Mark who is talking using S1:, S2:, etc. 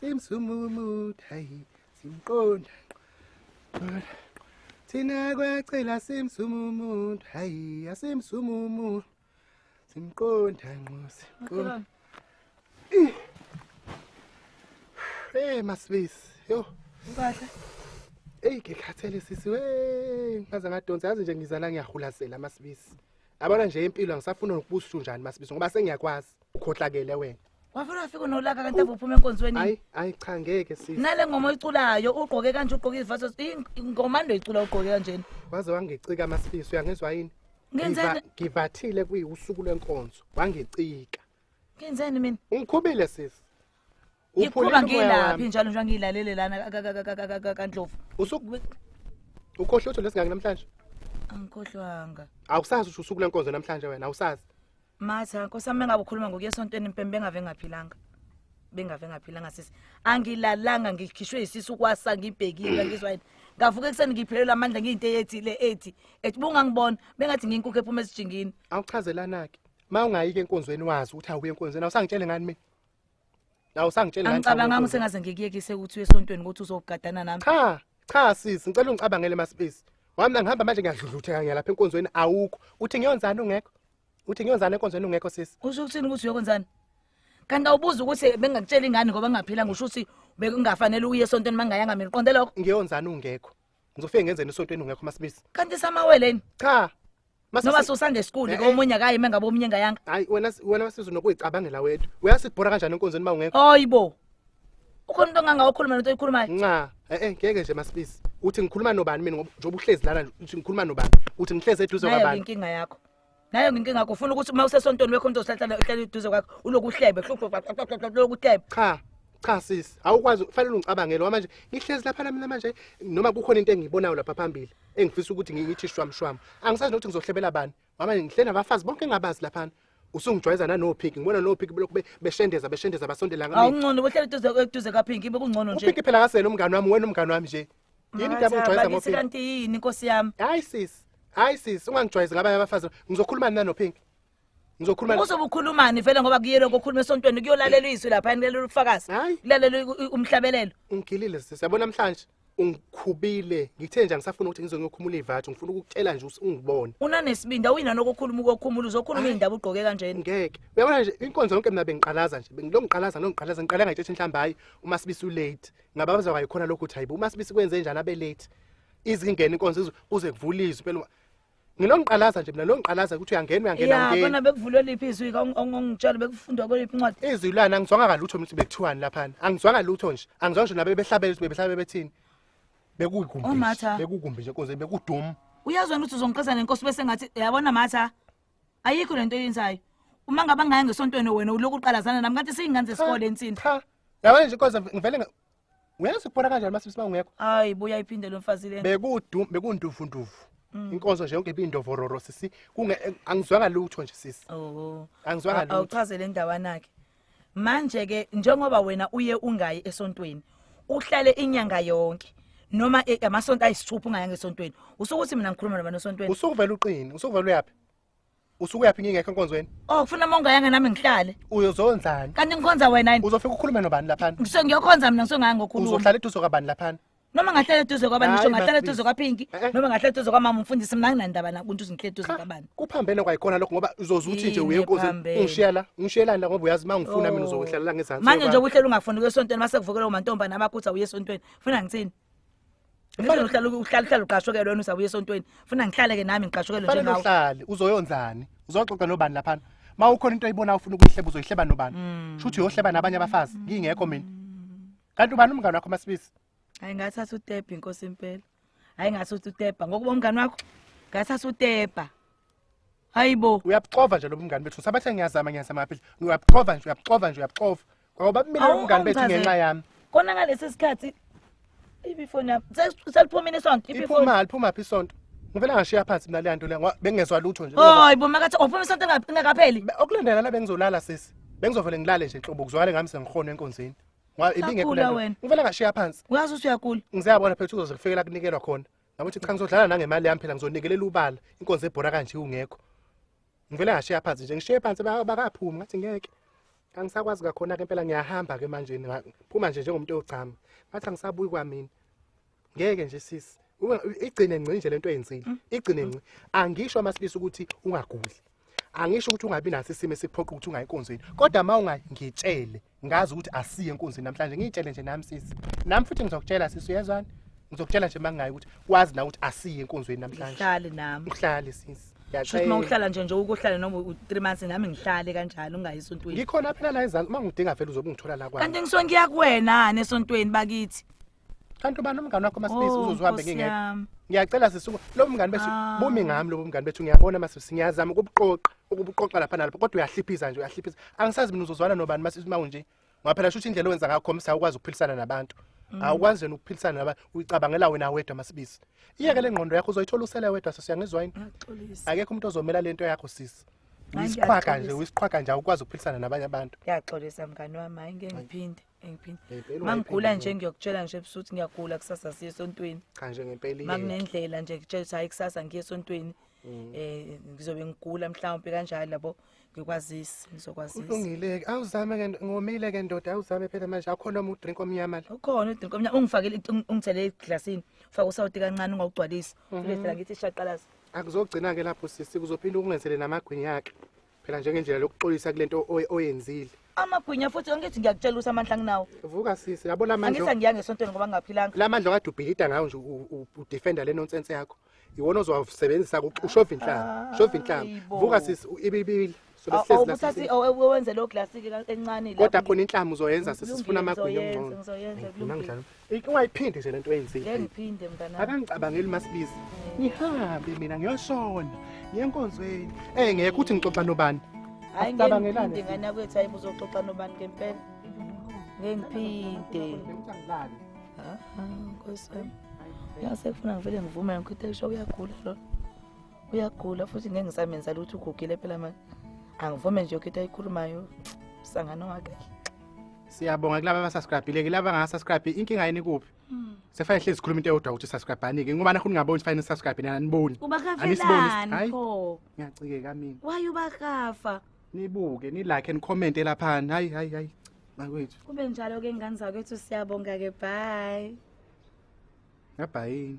S1: simsumumut hayi simqonda thina kwacela simsumumut hayi asimsumumu simqonda nqo simqonda hey masibisi yo ukahle
S2: eyi
S1: ngikhathele sisi we ngaze ngadonsa yazi nje ngizala ngiyahulasela masibisi yabona nje impilo angisafuna nokubusa unjani masibisi ngoba sengiyakwazi ukhohlakele wena wavele wafika unolaka
S2: kanti ave uphuma enkonzweni hayi hayi cha ngeke
S1: sisi nale ngoma oyiculayo
S2: ugqoke kanje ugqoke izivaso ingoma ndo icula ugqoke kanjena waze wangicika
S1: amasifiso uyangizwa yini ngenzeni
S2: ngivathile
S1: kuyiwusuku lwenkonzo wangicika ngenzeni
S2: mina ungikhubile sisi
S1: Ngikhuba
S2: ngilaphi njalo nje ngilalele lana kaNdlovu. Usuku
S1: ukhohle utho lesingaki namhlanje? Angikhohlwanga.
S2: Awusazi usho
S1: usuku lenkonzo namhlanje wena awusazi. Matha, nkosami
S2: engabe ukhuluma ngokuya esontweni impembe engave ngaphilanga. Bengave ngaphilanga sisi. Angilalanga ngikhishwe isisu kwasa ngibhekile ngizwa yini. Ngavuka ekuseni ngiphelelwa amandla ngiyinto eyethile ethi ethi bungangibona bengathi nginkukhu ephuma esijingini. Awuchazelana ke.
S1: Uma ungayi ke enkonzweni wazi ukuthi awuye enkonzweni awusangitshele ngani mina. La usangitshele ngani? Angicabanga ukuthi ngaze
S2: ngikuyekise ukuthi uye esontweni ukuthi uzogadana nami. Cha, cha sisi,
S1: ngicela ungicabangele masipisi. Wami ngihamba manje ngiyadludlutheka ngiyalapha enkonzweni awukho. Uthi ngiyonzana ungekho? uthi ngiyokwenzani enkonzweni ungekho sisi usho ukuthini ukuthi uyokwenzani
S2: kanti awubuza ukuthi bengakutshela ingane ngoba ngaphila ngisho ukuthi bekungafanele uye esontweni mangayanga mina uqonde lokho ngiyokwenzani ungekho
S1: ngizofike ngenzeni esontweni ungekho masibisi kanti samaweleni
S2: cha
S1: noma
S2: susangesikuli eh, eh. komunye akayi mengabe omunye engayanga hayi wena wena sizo
S1: nokuyicabangela wethu uyasidibhora kanjani enkonzweni uma ungekho hayibo
S2: ukhona into onganga okhuluma nento oyikhulumayo nca eh eh ngeke
S1: nje masibisi uthi ngikhuluma nobani mina ngoba njengoba uhlezi lana nje, uthi ngikhuluma nobani uthi ngihlezi eduze nayo kwabantu inkinga yakho
S2: nayo inkinga yakho ufuna ukuthi uma usesontweni wekho umuntu ozohlala uhlala eduze kwakho uloku uhlebe loku uhlebe cha cha sisi
S1: awukwazi fanele ungicabangele ngoba manje ngihlezi lapha mina manje noma kukhona into engiyibonayo lapha phambili engifisa ukuthi ngi- ngithi shwamshwamu angisazi nokuthi ngizohlebela bani Mama ngihle nabafazi bonke engabazi laphana. Usungijwayeza nanoPink ngibona noPink belokhu be- beshendeza beshendeza basondela ngami. awungcono bohlala eduze eduze
S2: kaphinki bekungcono nje UPink phela akasele umngani wami
S1: wena umngani wami nje. Yini into abangijwayeza Bakithi ngoPink? kanti yini nkosi yami
S2: Hayi sis. Hayi
S1: sis ungangijwayezi ngabanye abafazi. Ngizokhuluma nani noPink? Ngizokhuluma na- uzobe ukhulumani vele
S2: ngoba kuyelo kokhuluma esontweni kuyolalela izwi lapha nilalela ubufakazi Hayi. kulalelwa umhlabelelo ungigilile sis.
S1: Yabona namhlanje. ungikhubile ngithe nje angisafuna ukuthi ngize ngiyokhumula ivathu ngifuna ukukutshela nje ukuthi ungibone unanesibindi awuyina
S2: nokukhuluma ukokhumula uzokhuluma indaba ugqoke kanjena ngeke uyabona nje
S1: inkonzo yonke mina bengiqalaza nje bengilo ngiqalaza no ngiqalaza ngiqala ngayitshethe inhlamba hayi uma sibisi ulate ngababaza kwayikhona lokhu ukuthi hayibo uma sibisi kwenze njani abe late izingena inkonzo kuze kuvulizwe phela nginongiqalaza nje mina longiqalaza ukuthi uyangena uyangena ya ngeni kona bekuvulwe liphi
S2: izwi ka ongongitshela bekufundwa kweliphi incwadi izwi lana angizwanga kalutho
S1: mina ukuthi bekuthiwani laphana angizwanga lutho nje angizwanga nje nabe behlabela ukuthi bebehlabela bethini bekuyikumbi Oh, Matha. bekukumbi nje konze bekudum uyazwena ukuthi uzongiqisa
S2: nenkosi bese ngathi yabona matha ayikho lento oyenzayo uma ngaba ngaya ngesontweni wena uloku uqalazana nami kanti siyingane zesikole ensini cha yabona nje konze
S1: ngivele nga- Ngeke sikubona kanjani masisi mawungekho? Hayi buya iphinde lo
S2: mfazi lena. Bekudu bekunduvu nduvu.
S1: Mm. Inkonzo nje yonke ibindovororo sisi kunge eh, angizwanga lutho nje sisi. Oh. Angizwanga lutho. Awuchazele indawana ke.
S2: Manje ke njengoba wena uye ungayi esontweni uhlale inyanga yonke noma eh, amasonto ayisithupha ungayanga esontweni usukuthi mina ngikhuluma nabantu esontweni usukuvela uqini usukuvela
S1: uyapi usuke yaphi ngingekho enkonzweni oh ufuna uma ungayanga nami
S2: ngihlale uyozonzani kanti
S1: ngikhonza wena
S2: yini uzofika ukhulume nobani laphana
S1: ngisuke ngiyokhonza mina ngisuke ngaya
S2: ngokhuluma uzohlala eduze kwabani laphana
S1: noma ngahlala eduze
S2: kwabani ngisho ngahlala eduze kwaphinki eh, eh. noma ngahlala eduze kwamama umfundisi mina nginandaba nakuntu uzinhle eduze kwabani kuphambene kwayikhona lokho
S1: ngoba uzoze uthi nje uye enkonzweni ungishiya la ungishiyelani la ngoba uyazi uma ngifuna mina oh. uzokwehlela la ngezansi manje nje ukuhlela ungafuni kuye
S2: esontweni mase kuvukela umantombana abakhutha uye esontweni funa ngithini Kufanele uhlale uhlale uhlale uqashokele wena usabuye esontweni. Funa ngihlale ke nami ngiqashokele Fanele njengawe. uhlale uzoyonzani?
S1: Uzoxoxa nobani lapha? Ma ukhona into oyibonayo ufuna ukuyihleba uzoyihleba nobani? Mm. Shuthi uyohleba nabanye abafazi ngingekho mina. Kanti ubani umngane wakho masibisi? Hayi ngathatha
S2: utepa inkosi impela. Hayi ngathatha utepa ngokuba umngane wakho. Ngathatha utepa. hayibo uyabuxova nje lo
S1: mngane bethu sabathe ngiyazama ngiyazama phela uyabuxova nje uyabuxova nje
S2: uyabuxova
S1: ngoba mina lo mngane bethu
S2: ngenxa
S1: yami kona ngalesi sikhathi
S2: ibifoni yami seliphumile isonto ibifoni iphuma liphuma phi isonto
S1: ngivela ngashiya phansi mina leyanto le bengezwa lutho nje hayi bo makathi uphuma
S2: isonto engakapheli okulandela la bengizolala
S1: sisi bengizovele ngilale nje nhlobo kuzwakale ngami sengihona enkonzweni ibingekho ngivela ngashiya phansi uyazi usuyagula
S2: ngizayabona phethu uzoze
S1: kufikela kunikelwa khona Yabo ukuthi cha ngizodlala nangemali yami phela ngizonikelela ubala inkonzo ebhora kanje ungekho. Ngivele ngashiya phansi nje ngishiye phansi ba- bakaphumi ngathi ngeke. Angisakwazi kakhona ke impela ngiyahamba ke manje nga- phuma nje njengomuntu ogcama. Ngathi angisabuyi kwamina. Ngeke nje sisi. Uma- Igcine ngci nje lento oyenzile. Igcine ngci. Angisho amasilisa ukuthi ungaguli. angisho ukuthi ungabi naso isimo esikuphoqa ukuthi ungayi enkonzweni kodwa uma ungayi ngitshele ngazi ukuthi asiye enkonzweni namhlanje ngiyitshele nje nami sisi nami futhi ngizokutshela sisi uyezwani ngizokutshela nje mangayi ukuthi wazi na ukuthi asiye enkonzweni namhlanje uhlale nami uhlale
S2: sisi Shuthi
S1: uma uhlala nje
S2: nje ukuhlala noma u3 months nami ngihlale kanjalo ungayi esontweni. Ngikhona phela la ezansi
S1: uma ngidinga vele uzobe ungithola la kwami. Kanti ngisongiya kuwena
S2: nesontweni bakithi. kanti ubani
S1: umngane wakho masibisi Oh, uzoze uhambe Nkosi ngingekho yami. ngiyacela sisuku lo mngane bethu Ah. bumi ngami lobo mngane bethu ngiyabona masibisi ngiyazama ukubuqoqa ukubuqoqa lapha nalapha kodwa uyahliphiza nje uyahliphiza angisazi mina uzozwana nobani masibisi uma unje ngoba phela shuthi indlela owenza ngakho msa ukwazi ukuphilisana nabantu Mm. awukwazi yena ukuphilisana nabantu uyicabangela wena wedwa masibisi iyeke le ngqondo yakho uzoyithola usele wedwa sisi uyangizwa yini Ngiyaxolisa. akekho umuntu ozomela le nto yakho sisi Hayi, uyisiqhwaga nje ngiyaxolisa. uyisiqhwaga nje awukwazi ukuphilisana nabanye abantu Ngiyaxolisa mngane wami
S2: hayi ngeke ngiphinde. Ngempela. Ngempela Mangigula wayiphendula. nje ngiyokutshela nje ebusuku ukuthi ngiyagula kusasa siye esontweni. Cha nje ngempela iyeke.
S1: Makunendlela nje ngitshela
S2: ukuthi hayi kusasa ngiye esontweni. Mm. Eh ngizobe ngigula mhlawumbe kanjalo labo ngikwazisi ngizokwazisa. Kulungile-ke awuzame
S1: ke ngomile ke ndoda awuzame phela manje akho noma udrink omnyama la Ukhona udrink omnyama ungifakele
S2: ungi- ungithele eglasini. Ufaka usawoti kancane ungawugcwalisi. Mhm. Ulethe la ngithi ishaqalaza. akuzogcina-ke lapho
S1: sisi kuzophinde ukungenzele namagwinya akhe phela njengendlela lokuxolisa kule nto oy- oyenzile amagwinya futhi
S2: angithi ngiyakutshela ukuthi amandla anginawo vuka sisi yabo la
S1: mandla angithi angiyange esontweni ngoba
S2: ngingaphilanga la mandla okade ubhilida
S1: ngawo nje u- u- udefenda le nonsense yakho iwona ozowasebenzisa ku- ushova inhlanga ushova inhlanga Hayi bo. vuka sisi u- ibibili sobe sihlezi la awubuthathi
S2: sisi. owenze leyo glasi-ke ka- encane kodwa lapho. khona inhlama uzoyenza
S1: sisi sifuna Kulungile, amagwinya ngizoyenza, ongcono ngizoyenza, Ayifuna kulungile.
S2: ngidlala.
S1: Ungayiphindi nje lento oyenzile. Ngeke ngiphinde mntana.
S2: Akangicabangeli masibizi.
S1: Ngihambe mina ngiyoshona. Yenkonzweni. Eh ngeke uthi ngixoxa nobani. Hayi ngicabangelani.
S2: Ngingana kwethu hayi uzoxoxa nobani ngempela. Ngeke ngiphinde. Ah, Nkosi yami. Yase kufuna ngivele ngivume ngikho utesho uyagula lo. Uyagula futhi ngeke ngisamenza lutho ugugile phela manje. Angivume nje ukho into ayikhulumayo. Sangano wakhe. Siyabonga
S1: kulaba abasubscribile kulaba angasubscribe inkinga yini kuphi? Hmm. Sefane hlezi sikhuluma into eyodwa ukuthi subscribe anike ngoba nakho ningaboni ukuthi fanele subscribe nina aniboni. Ubakafelani pho?
S2: Ngiyacikeka mina.
S1: Why ubakafa?
S2: Nibuke, ni
S1: like and comment lapha. Hayi hayi hayi. Makwethu. Kube njalo ke ngane
S2: zakwethu siyabonga ke bye. Ngabhayini.